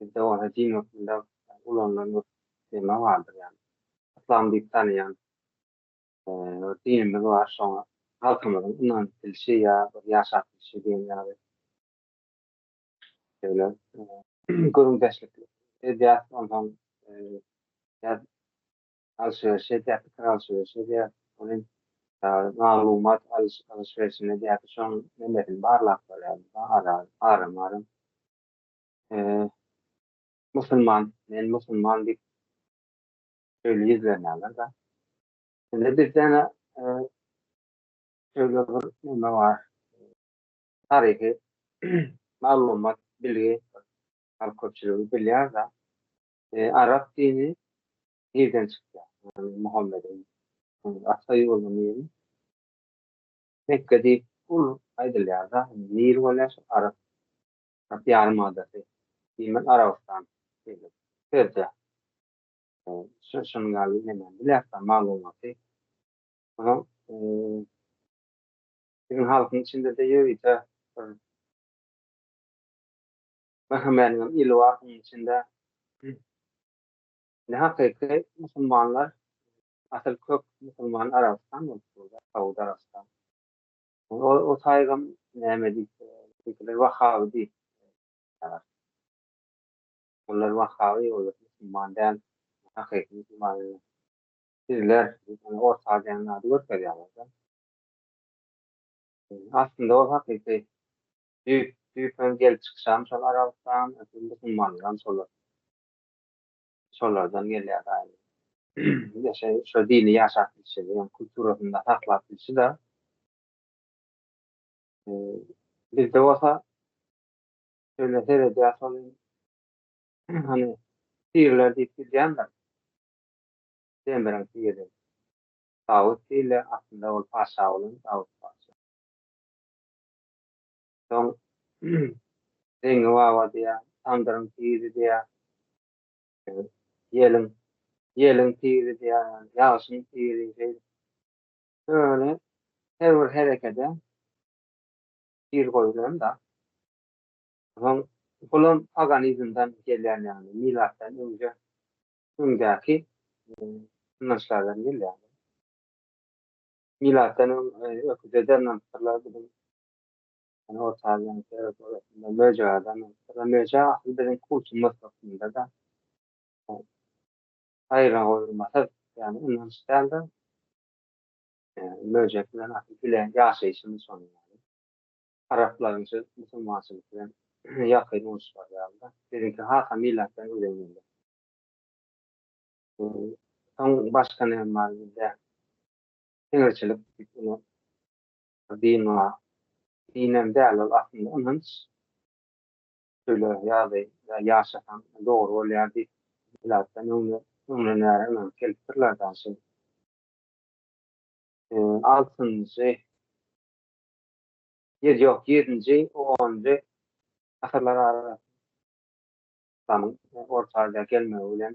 Bizde bolsa jyn hökmünde ulanylan bir tema bardyr ýaly. Yslam diýip tanaýan bir dinimiz bar, şoňa halkymyzyň ynanyp bilşi ýa bir ýaşap bilşi diýen ýaly şeýle gürrüňdeşlik edýäris, onsoň biraz alşy-berşi edýäris, pikir alşy-berşi edýäris. Ol hem maglumat alyş-berşini edýäris, şonuň nemesini barlap barýarys, ara-maram. Eee musulman men musulman diýip şeýle ýüz berýärler da. Indi bir däne eee şeýle bir neme bar. Taryhy maglumat, bilgi halk köpçüligi bilýär da. Eee arap dini nirden çykýar? Ýagny Muhammediň ata ýurdy nirem? Mekge diýip ol aýdylýar da. Nir bolýar şol arap Arap ýarymadasy, diýmek Arabystan, diýmek Persiýa. Şu şunuň ýaly bilemen bilersiň maglumaty. Munuň biziň halkyň içinde-de ýörite bir Möhümmäniň ili bar şunuň içinde. Ne hakyky musulmanlar asyl kök musulman Arabystan bolupdyr, Saud Arabystan. O saýgam näme diýse, beýlekiler Wahaby diýip ýazýarlar. Olar Wahaby, olar musulman däl, hakyky musulman bilen sizler diýip, ony Orta Aziýanyň ady görkezýärler-de. Aslynda ol hakyky düýpden gelip çykyşam şol Arabystan, musulmanlaram şolar. şolardan gelýär daýy. Bizde şeý şu dili ýaşap bilşi, ýöne kulturasynda saklap bilşi-de. Bizde bolsa şeýle seredýär şol hany tirler diýip gidýändir. Demiriň tiri. Dawut diýilýär, aslynda ol paşa bolan Dawut paşa. Soň Zeňňi baba diýýär, Tamdyryň tiri diýýär. Ýeliň, ýeliň tiri diýýär, ýagny ýagşyň tiri şeýdip. Şöyle her bir herekede tir goýulan-da. Soň bulam paganizmden gelýän ýaly, milatdan öňje öňdäki ynançlardan gelýär. Milatdan öň öküze dernäpdirler, biziň Ýöne orta aziýanyň sebit ýörelgesinde möjek adamy, ýa-da möjek asyl biziň kultumyz hökmünde-de gaýragoýulmasyz, ýagny ynanç däl-de, möjek bilen asyl bile ýaşaýşymyz şonuň ýaly. Araplaryň şu musulmançylyk bilen ýakyn uruşlary ýaly-da, biziňki has-a milatdan öňden gelýär. Soň başga näme bar bizde? Siňirçilik diýip ine Dine, dinem däl ol aslynda ynanç. Şöyle ýaly ýaşasaň dogry bolýar diýip milatdan öňden bäri ynanyp gelipdirler dagy şeýle. Altynjy, ýok ýedinji, onunjy asyrlar arasynda Islamiň Orta Aziýa gelmegi bilen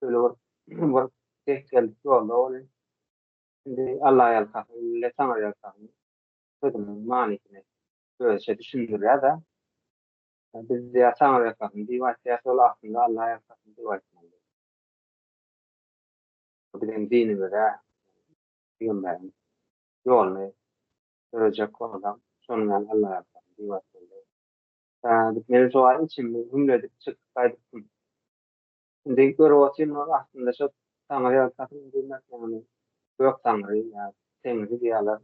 Şöyle bir, bir denk geldik yolda oly. Şimdi Allah'a yalkasın, ille sana yalkasın. Sözümün manisini özçe düşündürýär da. Biz diýär sana yalkasyn diýip aýtýas, ol aslynda Allah'a yalkasyn diýip aýtmaly. Bu biziň dinimize, pygamberiň ýoluny dörejek bolsa, şonuň ýaly Allah'a yalkasyn diýip aýtmaly. Ýa, diýip, men şo wagt içimde hümledip çykyp gaýdypdym. Indi görüp otyryn ol aslynda şo Taňry ýalkasyn diýmek ýagny Gök Taňry ýa Teňri diýýärler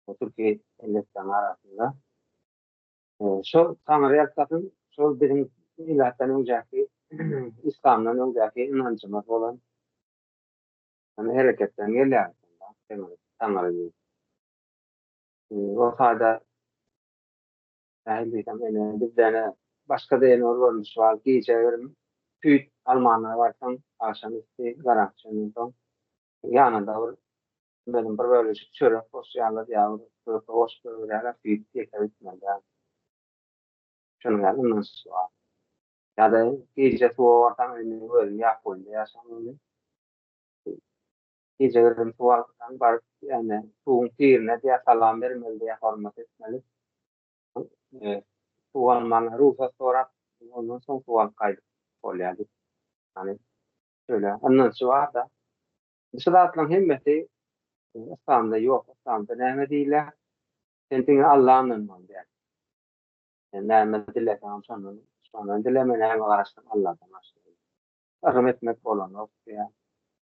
bu türki elleriň arasynda. Şo Taňry ýalkasyn şol biziň milatdan öňjäki islamdan öňjäki ynanjymyz bolan şonda hereketden gelýär aslynda Teňri Taňry diýip. Ýogsada Nähili diýsem, ene, bizde, ene, başga zeýnur görnüşi bar, gije irim, süýt almana barsaň, agşam üsti garaňky çenli soň, ýanyna-da bir, bilmedim, bir bölejik çörek goşýarlar ýa bir köke goşup goýberýärler, süýt ýeke bitmeli däl. Şonuň ýaly ynanşy bar. Ýa-da gije suwa barsaň, indi özüň ýapyň goýnunda ýaşaň indi. Gije gürrüňki wagtyndan baryp, ýagny suwuň pirine diýýär, salam bermeli diýýär, hormat etmeli. Suw almagyna rugsat sorap, ondan soň suw alyp gaýdyp bolýar diýip, ýagny şeýle ynançy bar-da. Şu zatlaryň hemmesi yslamda ýok. Yslamda näme diýilýär? Sen diňe Alla ynanmaly diýýär. Sen näme dileseňem şondan, şondan dileme, näme garaşsyň Alladan başga. Yrym etmek bolanok diýýär.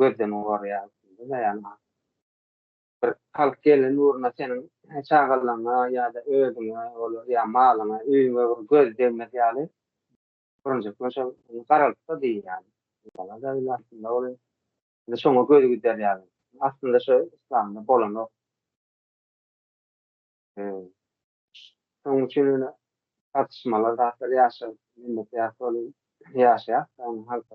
gözden gorýar bir halk gelen ugruna seniň çagalaryňa ýa-da özüňe olar ýa malyňa öýüňe bir göz degmez ýaly birinjek bilen şol garalypdyr diýýär indi şoňa göz gider ýaly aslynda şo yslamda bolanok şonuň üçin ýöne tartyşmalar zatlar ýaşa ýaşaýar halka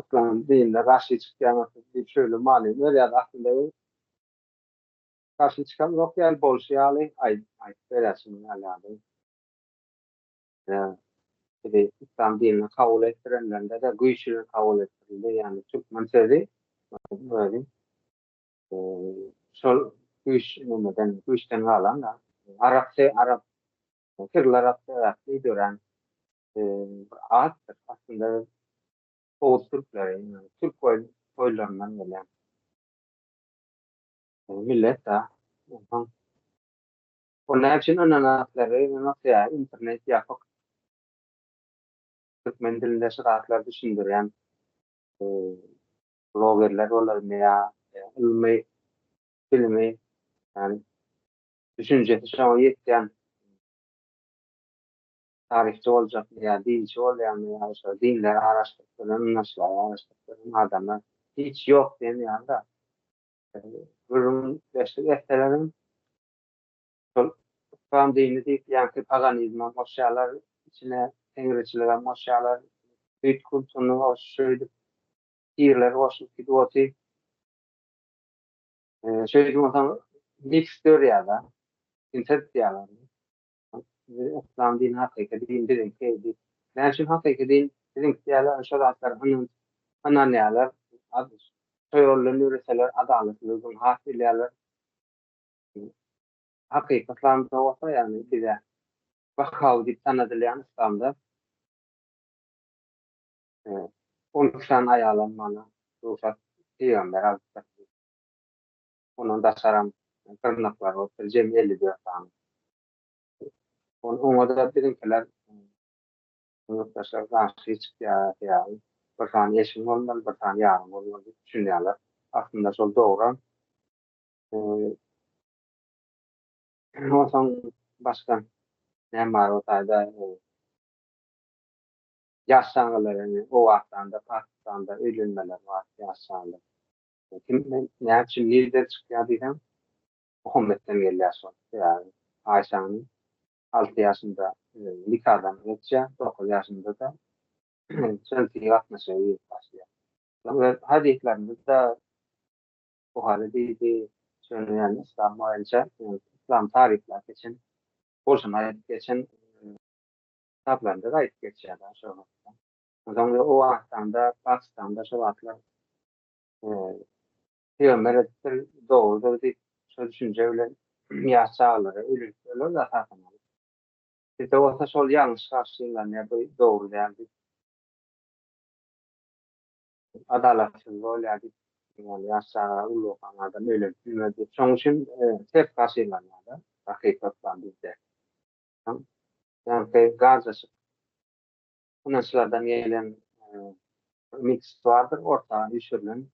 Yslam dinine garşy çykýaňyzsyz diýip şöyle many berýär aslynda bu garşy çykan ýok ýaly bolşy ýaly aýdyp berýär şunuň ýaly ýaly bizi yslam dinine kabul etdirenlerinde-de güýç bilen kabul etdirildi ýagny türkmen sözi özi şol güýç nämeden güýçden galan-da arap arap syrlar arap sebäpli dörän atdyr. Aslynda biz oguz türkleri, türk boýlaryndan gelýän millet-de. Onsoň ol näme üçin ynnan atlary ýa-da internet ýapyk türkmen dilinde şyr atlary düşündirýän blogerler bolarmy ýa ylmy bilimi düşünjesi şoňa ýetýän taryhçy boljak ýa dinçi bolýanlar ýa şo dinleri araşdyryp bilen naşylar araşdyryp bilen adamlar hiç ýok diýen ýaly-da. Gürrüň beşlik etseleriň şol yslam dini diýip ýaňky paganizmam goşýarlar içine teňriçiligem goşýarlar süýt kultuny goş şeýdip pirleri goşup gidip otyr. Şeýdip onsoň miks dörýär-de. Sintez diýýärler. Sizi yslam dini hakyky din biziňki diýip. Näme üçin hakyky din biziňki diýýärler şo zatlar ynanç ynanýarlar şo ýoldan ýöreseler adalatlydygyny has bilýärler. Hakyky yslamda bolsa ýagny bize Bahaw diýip tanadylýan yslamda on iki sany aýalam bana rugsat pygamber alypdyr. ondan daşaram gyrnaklary bolupdyr, jemi elli dört sany. Oňa-da biziňkiler, ýurtdaşlar garşy çykýarlar ýaly, bir sany eşigiň bolmaly, bir sany ýaryň bolmaly diýip düşünýärler. Aslynda şol dogry. Onsoň başga näme bar o taýda? Ýaş çagalar, indi Owganystanda, Pakistanda öýlenmeler bar ýaş çagalar. Kimden, näçün, nireden çykýar diýseň, Muhammetden gelýär şol. Sebäbi Aýşäni alty ýaşynda nikadan geçýär, dokuz ýaşynda-da jynsy gatnaşyga girip başlaýar. Soň öz hadyslarynda-da Buhary diýdi, şonda ýaly yslam boýunça, yslam taryplap geçen, bolşuny aýdyp geçen kitaplarynda-da aýdyp geçýär-de şol wagtda. Soň o Owganystanda, Pakistanda şo wagtlar Pygamber edipdir, dogrudyr diýip, şol düşünje bilen ýaş çagalary öldürip durlar-da esasan alyp. Bizde bolsa şol ýalňyş garşylanýar, bu dogry däl diýip. Adalatsyz bolýar diýip, ýaly ýaş çaga uly bokan adam öýlenip bilmez diýip, şonuň üçin ters garşylanýar-da hakykat bilen bizde. Ýaňky garjaşyk ynançlardan gelen ümyt-üstwardyr orta düşürilen.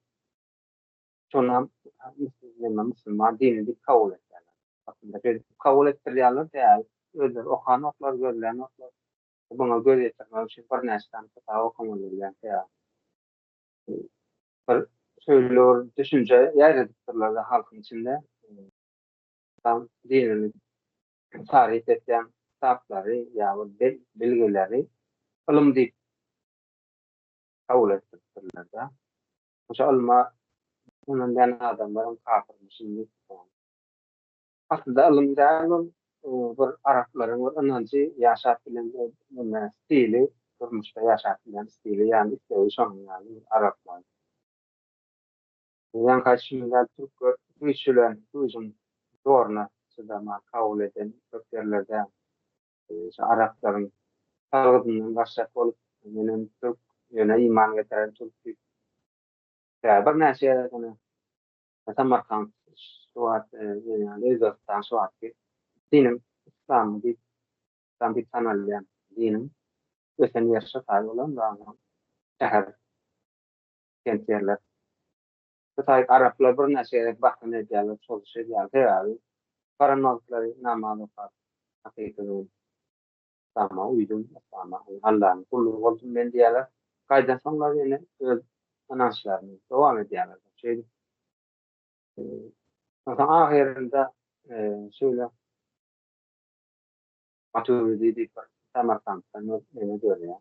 Şonam musulman dini diýip kabul edýärler. Aslynda şeýdip kabul etdirýärler däl. Özleri okanoklar, gözlänoklar. Muňa göz ýetirmek üçin birnäçe sany kitap okamaly bolýar. Bir şeýle bir düşünje ýaýradypdyrlar-da halkyň içinde. Yslam dinini taryp etýän kitaplary ýa-da belgileri ylym diýip kabul etdiripdirler-de. Şo ylma ynanýan adamlaram kapyrmyşyn diýipdir. Aslynda ylym däl ol, bir araplaryň bir ynanjy, ýaşap bilen stili, durmuşda ýaşap bilýän stili ýa-ni islegi şonuň ýaly bir araplaryň. Bizden gaçybilmän türkler güýç bilen güýjüň zoruna çydaman kabul eden köp ýerlerde şu araplaryň salgydyndan gaçjak bolup menem türk ýöne iman getiren türk diýip tä birnäçe ýere ýöne Samarkant şu wagt Özbegistan şu wagtky diniň yslam diýip yslam diýip tanalýan diniň ösen ýeri şo taýy bolan şäher gelýärler. Şu taýyp araplar birnäçe gezek bahana edýärler, çozuş edýärler. Sebäbi baran wagtlary namaz okap, hakyky men yslama uýdum, yslama Allanyň gullugy boldum men diýýärler. Gaýdansoňlar ýene öz ynançlaryny dowam edýärler. Şeýdip soň ahyrynda şeýle Maturidi diýip bir Samarkantdan ýene dörýär.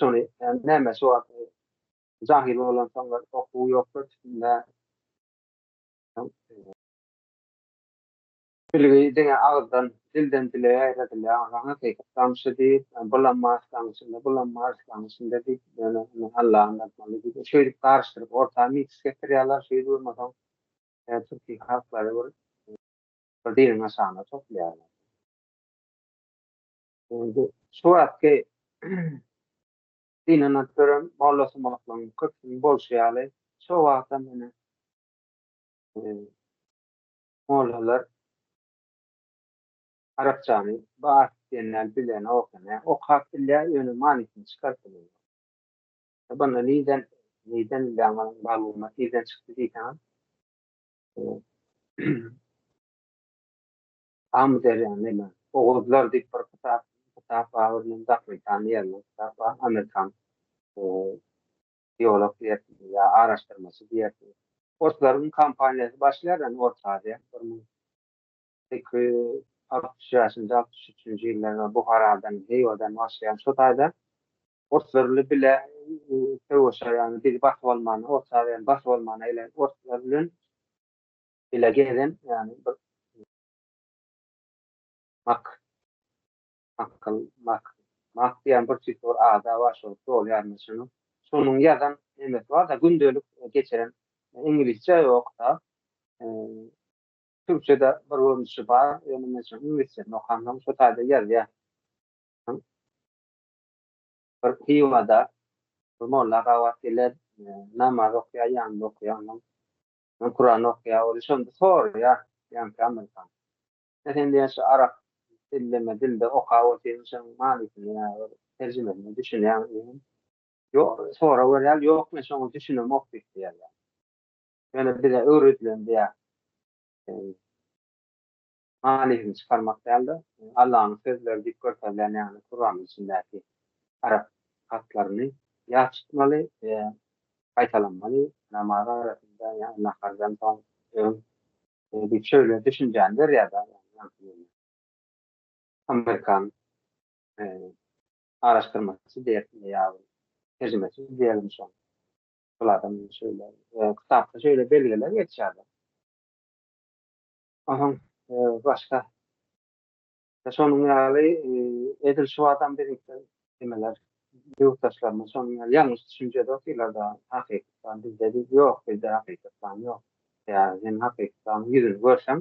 Şony näme şu wagt jahyl bolan soňlar okuw ýokdur içinde. Bilgi diňe agyzdan, dilden dile ýaýradylýar. Aha, Seýhek gamşy diýip, bulam Marslaň içinde, bulam Marslaň içinde diýip, ýöne indi Alla ynanmaly diýip, şeýdip garyşdyryp orta mix getirýärler, şeýdip bolmasaň türki halklary bir diliň aşagyna toplaýarlar. Şu wagtky synanyp gören mollasymaklygyň köpüsiniň bolşy ýaly, şo wagtam ýene mollalar arapçany bas diýen däl bilenok, ýa okap bilýär, ýöne manysyny çykaryp bilmeýär. Bunda nirden, nirden bilýäň onuň maglumat nirden çykdy diýseňem, Amyderýa neme, oguzlar diýip bir kitap kitap bar, bir meniň dakyly tanýan bir kitap bar, amerikan biolog diýersiň ýa araşdyrmaçy diýersiň. Orslaryň kampaniýasy başlaýar ýany Orta Aziýa, bir müň iki ýüz altmyş bäşinji, altmyş üçünji ýyllarda Buharadan, Hywadan başlaýan şo taýda orslar bile bile söweşer ýany bizi basyp almana, Orta Aziýany basyp almana gelen orslar bilen bile gezen ýani bir mak akal mak mak diýen bir tip bir ada bar şol dol ýarynda şonuň şonuň ýazan emesi bar da gündelik geçiren iňlisçe ýok da türkçede bir görnüşi bar ýöne men şonuň iňlisçesini okandym şo taýda ýazýar bir hywada bir molla gabat geler namaz okýar ýanynda okýar onuň Men Kuran okaýa ol şonda soraýa ýaňky Amerikan. Ýa sen diýýä şu arap dilleme dilde oka ol sen şoň manysyny ýa bir terjimesine düşünýäňmi diýýän. Ýok sorag berýär ýok men şoňa düşünemok diýip diýýär ýa. Ýöne bize öwredilen diýýär. Manysyny çykarmak däldir. Allanyň sözleri diýip görkezilýän ýaly Kuranyň içindäki arap hatlaryny ýat tutmaly we gaýtalanmaly, namaz arasynda ýa nahardan soň, öň diýip şeýle düşünjäni berýär-de. Amerikan araşdyrmaçysy diýersiň ýa terjimeçi diýelim şoň. Ol adam şeýle kitapda şeýle belgiler geçýär-de. Onuň başga şonuň ýaly edil şu adam biziň nimeler ýurtdaşlarymyz şonuň ýaly ýalňyş düşünjede otyrlar-da, hakykatdan bizde diýip, ýok bizde hakykatdan ýok. Ýa sen hakykatyň ýüzüni görseň,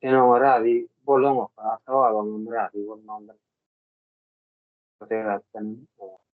sen oňa razy bolaňok, ata-babaňam razy bolmandyr. Bu sebäpden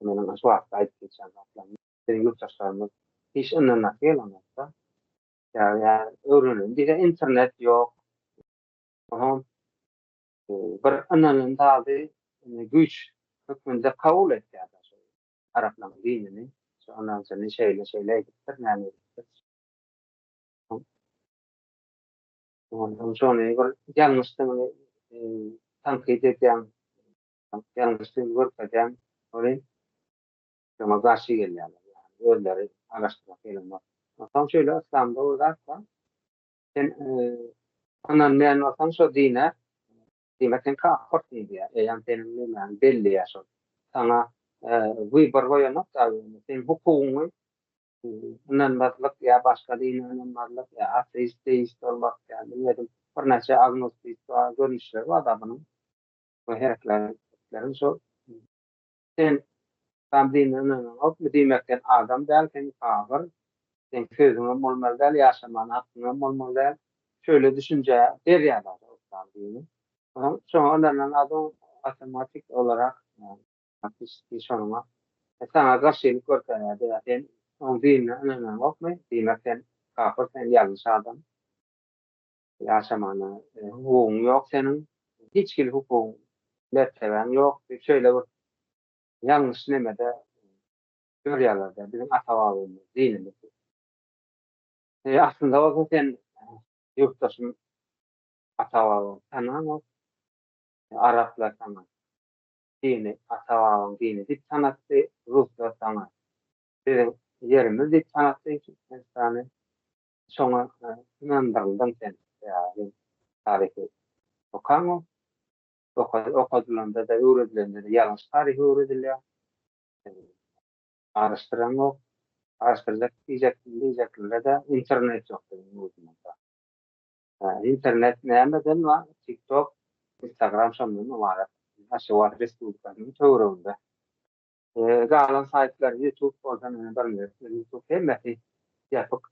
Meniň şu wagtda aýdyp geçýän zatlarym biziň ýurtdaşlarymyz hiç ynanasy gelenokda. Ýa-ýa öwrenilen diýse internet ýok. Oňam bir ynanylan zady güýç hökmünde kabul etýär araplaryň dinini. Şu ynanjyny şeýle-şeýle edipdir, näme edipdir. Ondan şony bir ýalňyşdygyny tankyt edýän Ýalňyş söz görkezýän oly şoňa garşy gelýärler. Ýagny özleri araşdyrmak gelenok. Onsoň şeýle yslamda bir zat bar. Sen ynanmaýan bolsaň şo dine diýmek sen kapyrsyň diýýär. Eýýäm seniň nemäň belli ýa şol. Saňa wybar goýanok da seň hukugyňy ynanmazlyk ýa başga dine ynanmazlyk ýa ateist, deist bolmak ýa bilmedim birnäçe agnostik görnüşleri bar da bunuň. we hereketleriň şol. Sen Adam dine ynananokmy diýmek sen adam däl sen kabyr seň sözüňem bolmaly däl ýaşamana hakyňam bolmaly däl şöyle düşünjä berýärler Islam dini soň şoňa ynanan adam awtomatik olarak ýa şoňa saňa garşylyk görkezýärdi ýa sen oň dinine ynananokmy diýmek sen kabyr sen ýalňyş adam. Ýaşamagyna hukugyň ýok seniň. Hiç hili hukugyň, mertebäň ýok diýip şeýle bir ýalňyş nemede ýörýärler-de, biziň ata-babamyz, dinimiz diýip. E, aslynda bolsa sen, ýurtdaşym, ata-babaňy tanaňok. Araplar saňa dini, ata-babaň dini diýip tanatdy, ruslar saňa biziň ýerimiz diýip tanatdy Türkmenistany. Şoňa ynandyryldyň sen. Ýa-da taryhy okaňok. Okadylanda-da, öwredilende-de ýalňyş taryhy öwredilýär. Araşdyraňok. Araşdyrjak diýjeklere-de internet ýok biziň ýurdumyzda. Internet nämeden bar? TikTok, Instagram şondan ybarat. Aşgabat respublikasynyň töwereginde Galan saýtlar YouTube bolsa meni bilmez. YouTube hemmesi ýapyk.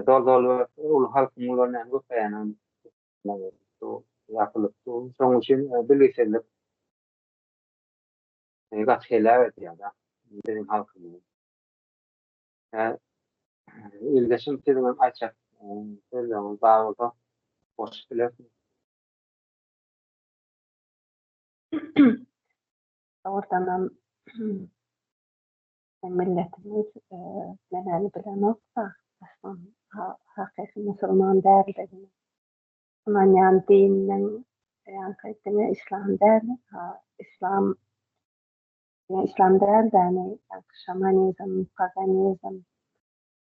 Dol-dol uly halkyň uly näme köpeýänem ýapylyp dur. Şonuň üçin bilgisizlik gaty heläk edýär-de biziň halkymyzy. Ildeşim siziňem aýtjak sözleriňiz bar bolsa goşup bilersiňiz. Dogrudanam, biziň milletimiz nämäni bilenokka, yslam hakyky musulman däldigini ynanýan dininiň ýaňky dini yslam däl, yslam dini yslam däl däni, ýaňky şamanizm, paganizm,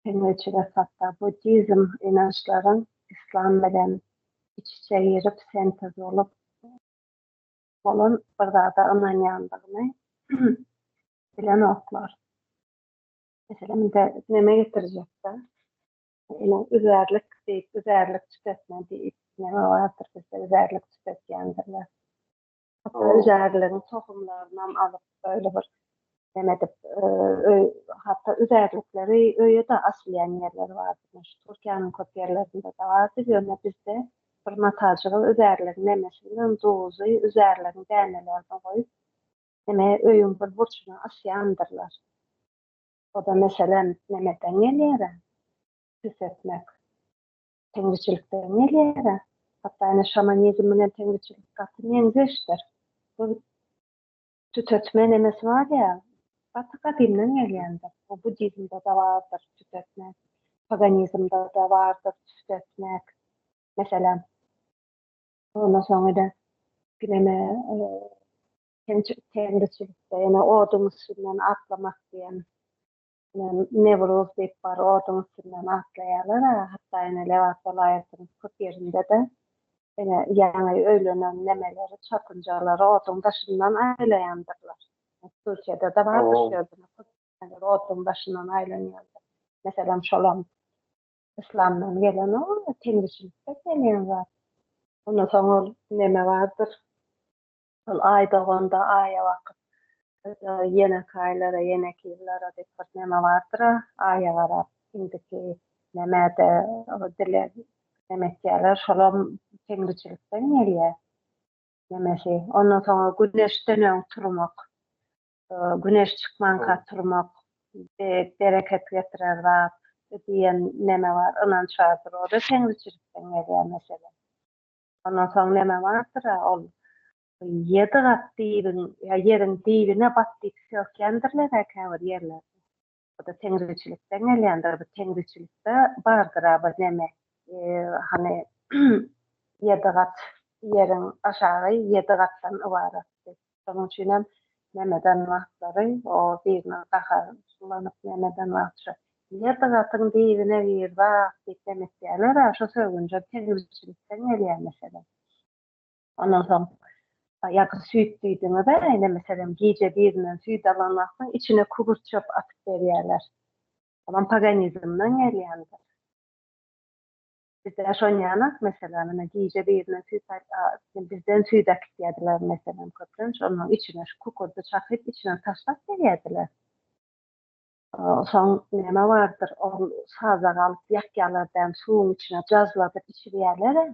pengoçilik hatda buddizm ynançlaryň yslam bilen iç-içe girip, sentez bolup Olam bir zada ynanýandygyny bilenoklar. Meselem, indi neme getirjekdi? Ine, üzärlik diýip, üzärlik çykypmy diýip, neme bardyr bizde üzärlik çykypýandyr. Hatta üzärligiň tohumlarynam alyp, öýle bir näme edip öý hatda üzärlikleri öýe-de asylýan ýerleri bardy. Şu Türkiýäniň köp ýerlerinde-de bardy. Ýöne bizde bir matajygy üzärligiň nämesi bilen duzy üzärligiň dänelerine goýup, näme öýüň bir burçuna asýandyrlar. O-da meselem nämeden gelýär-ä? Pis etmek. Teňriçilikden gelýär-ä. Hatda ine şamanizm bilen teňriçilik gaty meňzeşdir. Bu Tütetme nemesi bar ýa, gaty gadymdan gelýändir. Bu buddizmde-de bardyr tütetmek, paganizmde-de bardyr tütetmek, meselem. Ondan soň ede gineme ýene oduň üstünden atlamak diýen Newruz diýip bar oduň üstünden atlaýarlar-a, hatda ine Lebap welaýatynyň köp ýerinde-de ine ýaňy öýlenen nemeleri, çatynjalary oduň daşyndan aýlaýandyrlar. Türkiýede-de bardyr şu ýerde oduň daşyndan aýlanýandyr. Meselem, şolam yslamdan gelen o, temizçilikden gelýän zat. Ondan soň ol neme bardyr, Şol aý doganda aýa bakyp ýa-da ýenekaýlara, ýenekizlara diýip bir neme bardyr-a, aýa garap indiki nämede dileg neme etýärler, şolam Teňriçilikden gelýär nemesi. Ondan soňra güneşden öň turmak, güneş çykmanka turmak bereket getirer zat diýen neme bar, ynanç bardyr. O-da Teňriçilikden gelýär meselem. Ondan soň näme bardyr-a, ol ýedi gat diýibiň, ýa ýeriň diýibine bat diýip sökýändirler-ä käbir ýerlerde. Bu-da teňriçilikden gelýändir. Bu teňriçilikde bardyr-a bir näme, hany, ýedi gat ýeriň aşagy ýedi gatdan ybaratdy. Şonuň üçin hem Memedan wagtlary o biriniň gaha sulanyp Memedan wagtça Girdi gatyň dibine girdi-ak diýip hem etýäler-ä, şo sögünjem tegmilçilikden gelýär meselem. Ondan soň ýa gyz süýt diýdiňiz-ä ine meselem gije birinden süýt alan wagtyň içine kugurt çöp atyp berýäler. Olam paganizmden gelýändir. Bizde şon ýanak meselem ine gije birine süýt aýyp bizden süýt äkitýädiler meselem köplenç şonuň içine şu kukurdy çakyp içine taşlap berýädiler. Soň näme bardyr ol sazak alyp ýakýalar däm suwuň içine jazladyp içirýälere.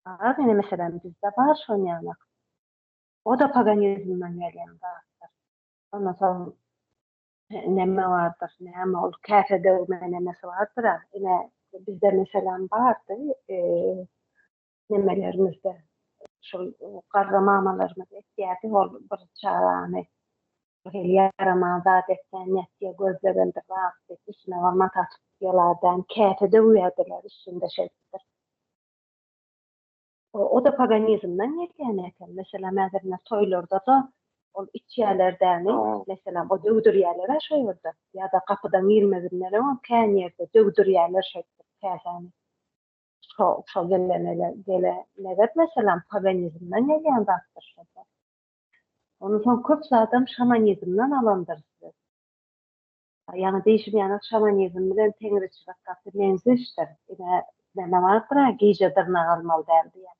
Bar ine meselem bizde bar şon ýanak. O-da paganizmden gelýän zatdyr. Ondan soň Näme bardyr, näme ol käse döwme nämesi bardyr-a, ine, bizde meselem bardy, nemelerimizde, şol garry mamalarymyz etýärdi, ol bir çagany bir hili ýaraman zat etseň, nätdiýä gözlegendir zat diýip, üstüne bir mataçyk ýyladan käse döwýärdiler, üstünde şeýtdir. O-da paganizmden gelýän eken. Meselem, häzir ine toýlarda-da ol içýäler däni, meselem, o döwdürýäler-ä şo ýerde. Ýa-da gapydan girmezinden-öň kän ýerde döwdürýäler şeýdip käsäni. Şo, şo gelene, gelene-gelene, meselem, paganizmden gelýän zatdyr şo-da. Ondan soň köp zadam şamanizmden alandyrys biz. Ýaňy diýşim ýaly şamanizm bilen teňriçilik gaty meňzeşdir. Ine, näme bardyr-a, gije dyrnak almaly däl diýen.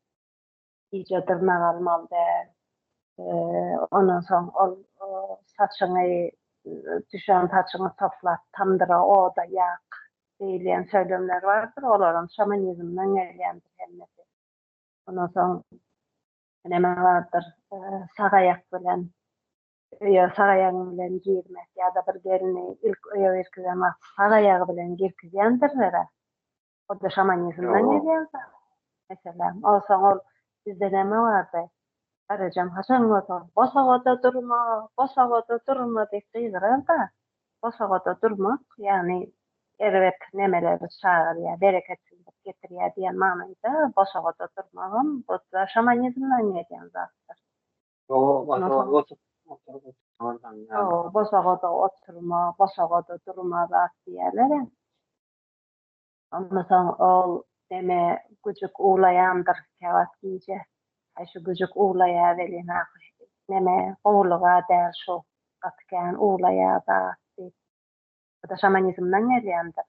Gije dyrnak almaly däl. Ondan soň ol saçyňy, düşen saçyňy toplap, tamdyra, oda ýak diýilýän söylemler bardyr. Olaram şamanizmden gelýändir hemmesi. Ondan soň näme bardyr, sag aýak bilen Öýe sag aýagyň bilen girmek ýa-da bir gelni ilk öýe girkizen wagty sag aýagy bilen girkizýändirler-ä. O-da şamanizmden gelýän zat. Meselem, onsoň ol bizde näme bardy? Garryjam haçan bolsa, Bosagada durma, bosagada durma diýip gygyrar-da, bosagada durmak, ýagny erbet nemeleri çagyrýar, bereketsizlik getirýär diýen manyda bosagada durmagam bu-da şamanizmden gelýän zatdyr. Bosagada oturma, bosagada durma zat diýerler. Ondan soň ol deme güjük uwlaýandyr käwagt gije. Aý şu güjük uwlaýar welin ahyr neme gowulyga däl şu gaty kän uwlaýar zat diýip. Bu-da şamanizmden gelýändir.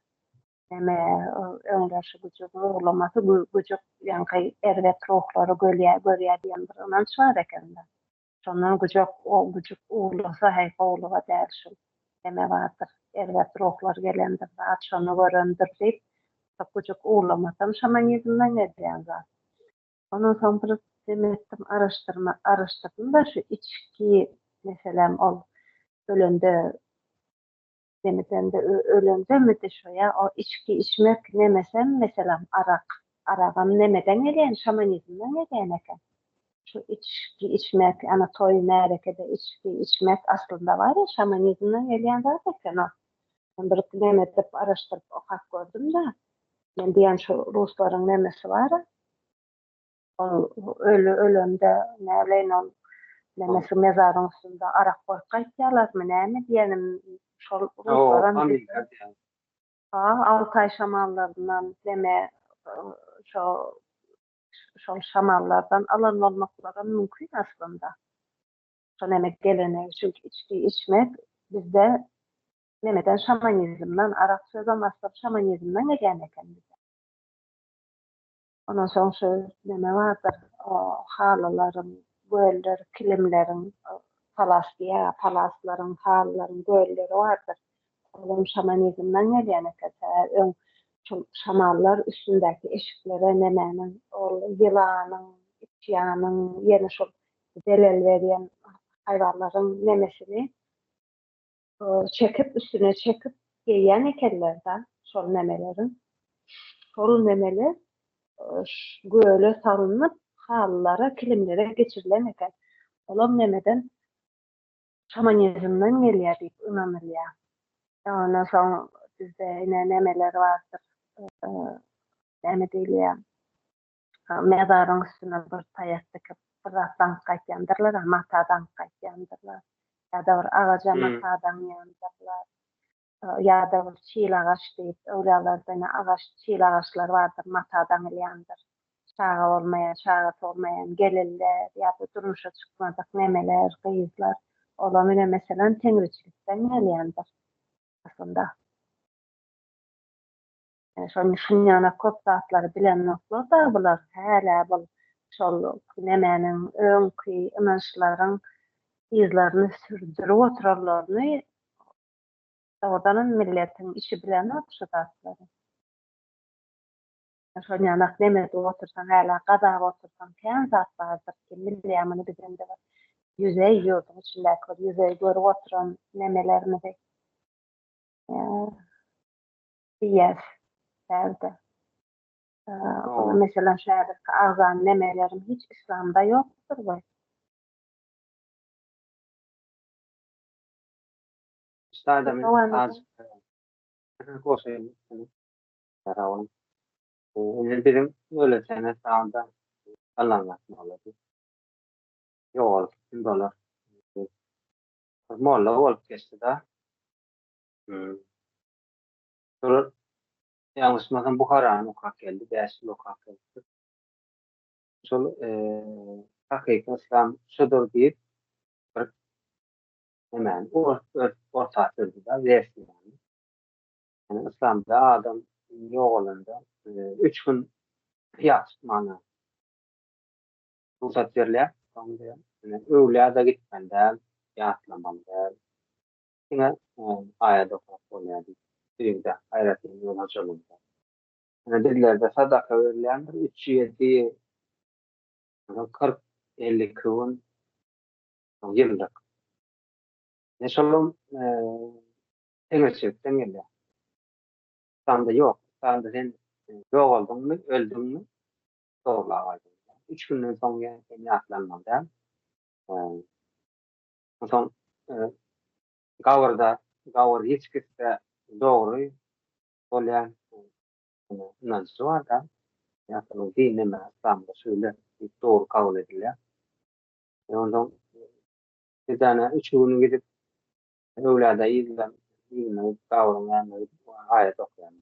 Näme öňdeşi güji gurlamasy güjük ýaňky erbet ruhlary gölýär görýär diýen bir ynanç bar ekende. Şondan güjük güjük uwlasa heý gowluga däl şul. Näme bardyr erbet ruhlar gelendir zat şony görendir diýip şo güjük uwlamasam şamanizmden gelýän zat. Ondan soň bir neme etdim araşdyrma araşdyrdym-da şu içki meselem ol ölende Demesem-de ölemsemidi şo ýa o içgi içmek nemesem meselem arak. Aragam nemeden gelýän şamanizmden gelýän eken. Şu içgi içmek ana toý märekede içgi içmek aslynda bar ýa şamanizmden gelýän zat eken o. Men bir neme edip araşdyryp okap gördüm-de. Men diýýän şu ruslaryň nemesi bar-a. Ol öli ölende näleýin ol neme şu mezaryň üstünde arak goýup gaýtýalarmy näme diýenim şol ruslaram diýdim. Ha Altaý şamallaryndan neme şo şol şamallardan alan bolmaklaram mümkin aslynda. Şo neme gelene çünki içgi içmek bizde nemeden şamanizmden arak sözem aslynda şamanizmden gelýän eken bize. Ondan soň şu neme bardyr, o halylaryň, göller, kilimleriň, palas diýýär, palaslaryň, halylaryň gölleri bardyr. Olam şamanizmden gelýän eken. Sebäbi öň şol şamanlar üstündäki eşiklere nemäniň, ol ýylanyň, itjanyň, ýene şol zelel berýän haýwanlaryň nemesini çekip üstüne çekip geýýän ekenlerdä şol nemeleri. Şol nemeler göle salnyp, halylara, kilimlere geçirilen eken. Olam nemeden şamanizmden gelýär diýip ynanylýar. Ondan soň bizde ine nemeler bardyr. Näme diýilýär? mezaryň üstüne bir taýak dikip, bir zat daňyp gaýtýandyrlar-a, mata daňyp gaýtýandyrlar. Ýa-da bir agaja mata daňýandyrlar. Ýa-da bir çil agaç diýip, öwlüýalarda ine agaç, çil agaçlar bardyr, mata daňylýandyr. Çaga bolmaýan, çagasy bolmaýan gelinler ýa-da durmuşa çykmadyk neneler, gyzlar, olam ine, meselem, teňriçilikden gelýändir aslynda. Şol Mihriýana köp zatlary bilenoklar dagy bular, hälä bul şol nemäniň öňki ynançlaryň yzlaryny sürdürip oturanlaryny dogrudanam milletiň içi bilenok şu zatlary. Şol ýanak neme edip otursaň hälä gazap otursaň kän zat bardyr ki millä muny biz indi bir ýüzeý ýurduň içindäki bir ýüzeý görüp oturan nemelerimizi Diýýär bärde. Ol meselem şägird ki agzan nemelerim hiç islamda ýokdur we. Şolar ýalňyşmasam Buharany okap geldi, bäş ýyl okap geldi. Şol hakyky yslam şudur diýip bir hemen orta sürdi da versiýany. Yani İslamda adam ýogalanda üç gün ýatyp mana rugsat berilýär. Öwlä-da gitmeli däl, ýatlamaly däl. Diňe aýat okap bolýar diýip, öýüňde aýratyn ýol hojalygy bar. Ine, bizlerde sadaka berilýändir, üç ýedi, soňra kyrk, elli iki gün, soň ýyllyk. Ine, şolam teňirçilikden gelýär. Yslanda ýok. Yslanda sen ýogaldyňmy, öldüňmi, sorlag aýdyň. Üç günden soň ýene seni ýatlanmaly däl. Onsoň gabyrda, gabyr hiç kesde dogry bolýan ynanjy bar-da. Ýagny dinde näme, yslamda şeýle diýip dogry kabul edilýär. Onsoň bir däne üç gün gidip öwlada yzlan, yzlan gabyryň ýanyna gidip aýat okaýan.